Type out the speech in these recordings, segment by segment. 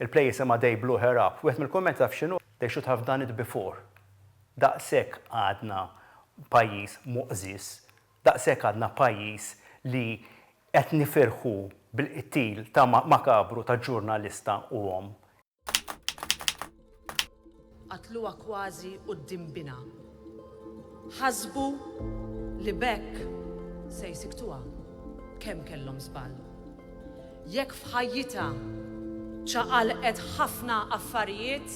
Il-play jisimha They Blew Her Up. Wieħed mill-kummenti taf x'inhu? They should have done it before. Daqshekk għadna pajjiż muqżież, daqshekk għadna pajjiż li qed nifirħu bil-qtil ta' makabru ta' ġurnalista u omm. Qatluha kważi quddiem binha. Ħasbu li b'hekk se jsiktuha. Kemm kellhom żball. Jekk f'ħajjitha ċaqalqet ħafna affarijiet,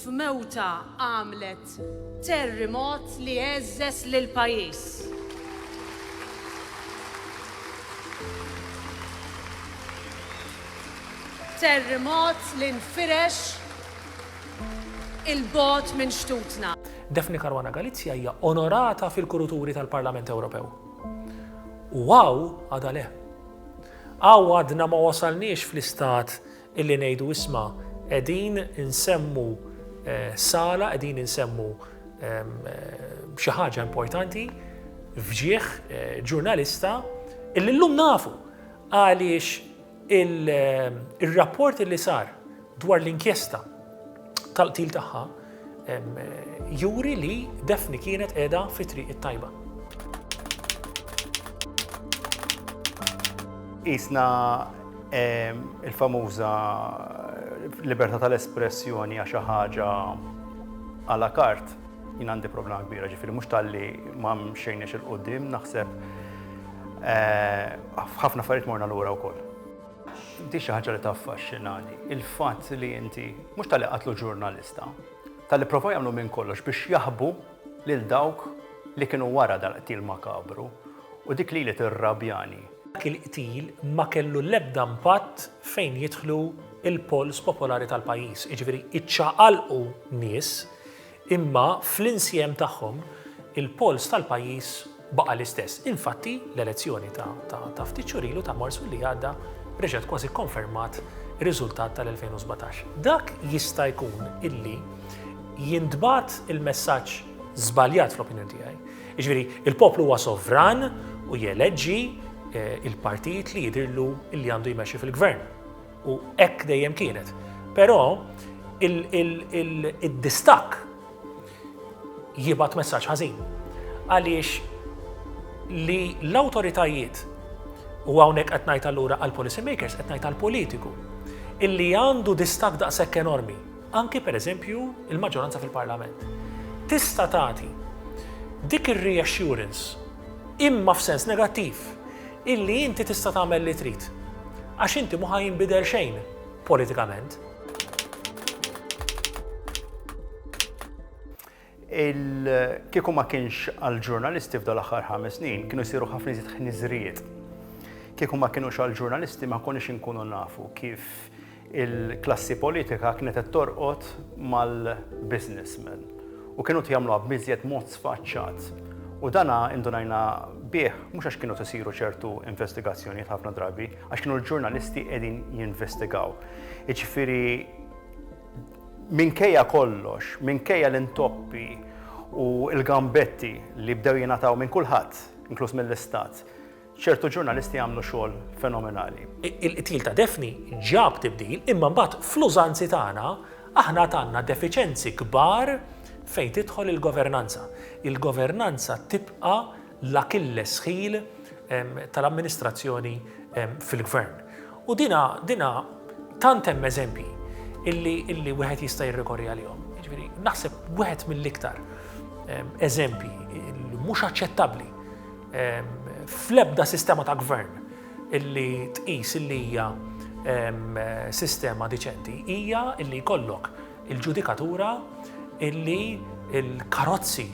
f'mewtha għamlet Terrimot li għeżżeż lill-pajjiż. Terrimot li nfirex il-bogħod minn xtutna. Daphne Caruana Galizia hija onorata fil-kuruturi tal-Parlament Ewropew. U hawn għadha le. Hawn għadna ma wasalniex fl-istat Illi ngħidu isma' qegħdin insemmu sala, qegħdin insemmu xi ħaġa importanti f'ġieħ ġurnalista illi llum nafu għaliex ir-rapport illi sar dwar l-inkjesta tal-qtil tagħha juri li Daphne kienet qiegħda fi triq it-tajba. Isna il-famuża libertà tal-espressjoni għax ħaġa għala kart jien għandi problema kbira ġifiri mhux talli ma mxejniex il-qudiem naħseb eh, ħafna affarijiet morna lura wkoll. Inti xi ħaġa li taffaxxinani, il-fatt li inti mhux talli qatlu ġurnalista, talli provaw jagħmlu minn kollox biex jaħbu lil dawk li kienu wara dal-qtil makabru u dik lili tirrabjani. Dak il-qtil ma kellu l-ebda impatt fejn jidħlu l-polls popolari tal-pajjiż, jiġifieri iċċaqalqu nies, Imma fl-insjem tagħhom, il-polls tal-pajjiż baqa' l-istess. Infatti, l-elezzjoni ta' ftit xhur ilu, ta' Marzu li għadda, reġgħet kważi kkonfermat ir-riżultat tal-2017. Dak jista' jkun illi jintbagħat il-messaġġ żbaljat fl-opinjoni tiegħi. Jiġifieri, il-poplu huwa sovran u jeleġġi l-partit li jidhirlu li għandu jmexxi fil-gvern. U hekk dejjem kienet. Però id-distakk jibgħat messaġġ ħażin. Għaliex li l-awtoritajiet u hawnhekk qed ngħid allura għall-policy makers qed ngħid għall-politiku illi għandu distakk daqshekk enormi anki pereżempju l-maġġoranza fil-Parlament, tista' tagħti dik ir-reassurance, imma f'sens negattiv, illi inti tista' tagħmel li trid, għax inti mhu ħa jinbidel xejn politikament. Kieku ma kienx għall-ġurnalisti f'dal-aħħar ħames snin, kienu jsiru ħafna iżjed ħniżrijiet. Kieku ma kienux għall-ġurnalisti ma konniex inkunu nafu kif il-klassi politika kienet qed torqod mal-businessmen u kienu qed jagħmluha b'iżjed mod sfaċċat. U dan indunajna bih mhux għax kienu qed isiru ċertu investigazzjonijiet ħafna drabi, għax kienu l-ġurnalisti qegħdin jinvestigaw. Jiġifieri Minkejja kollox, minkejja l-intoppi u l-gambetti li bdew jingħataw minn kulħadd, inkluż mill-Istat, ċertu ġurnalisti għamlu xogħol fenomenali. Il-qtil ta' Daphne ġab tibdil imma mbagħad fl-użanzi tagħna aħna għad għandna defiċenzi kbar fejn tidħol il-governanza. Il-governanza tibqa' l-Achilles heel tal-amministrazzjoni fil-Gvern. U dina, dina tant hemm eżempji illi, illi wieħed jista' jirrikorri għalihom. Jiġifieri, naħseb wieħed mill-iktar eżempji mhux aċċettabbli fl-ebda sistema ta' gvern illi tqis illi hija sistema diċenti hija illi jkollok il-ġudikatura illi l-karozzi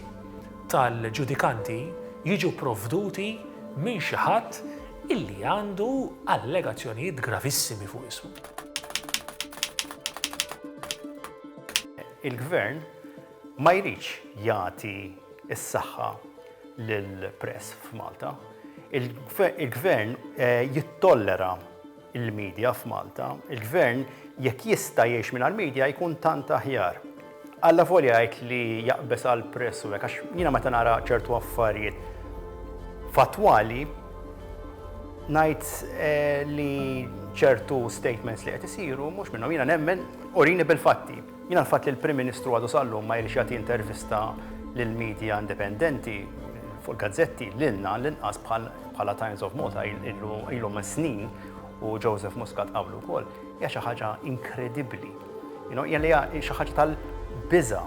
tal-ġudikanti jiġu provduti minn xi ħadd illi għandu allegazzjonijiet gravissimi fuq ismu. il-gvern ma jridx jagħti s-saħħa lill-press f'Malta. Il-gvern eh, jittollera il-media f'Malta, il-Gvern jekk jista' jgħix mingħajr media jkun tant aħjar. Allavolja jgħid li jaqbeż għall-press u hekk għax jiena meta nara ċertu affarijiet fattwali ngħid eh, li ċertu statements li qed isiru mhux minnhom jiena nemmen urini bil-fatti. Mingħajr fatt li l-Prim Ministru għadu sal-lum ma jridx jagħti intervista lill-media indipendenti, fuq il-gazzetti, lilna l-inqas bħala Times of Malta ilhom is-snin u Joseph Muscat qablu wkoll, hija xi ħaġa inkredibbli. Hija xi ħaġa tal-biża'.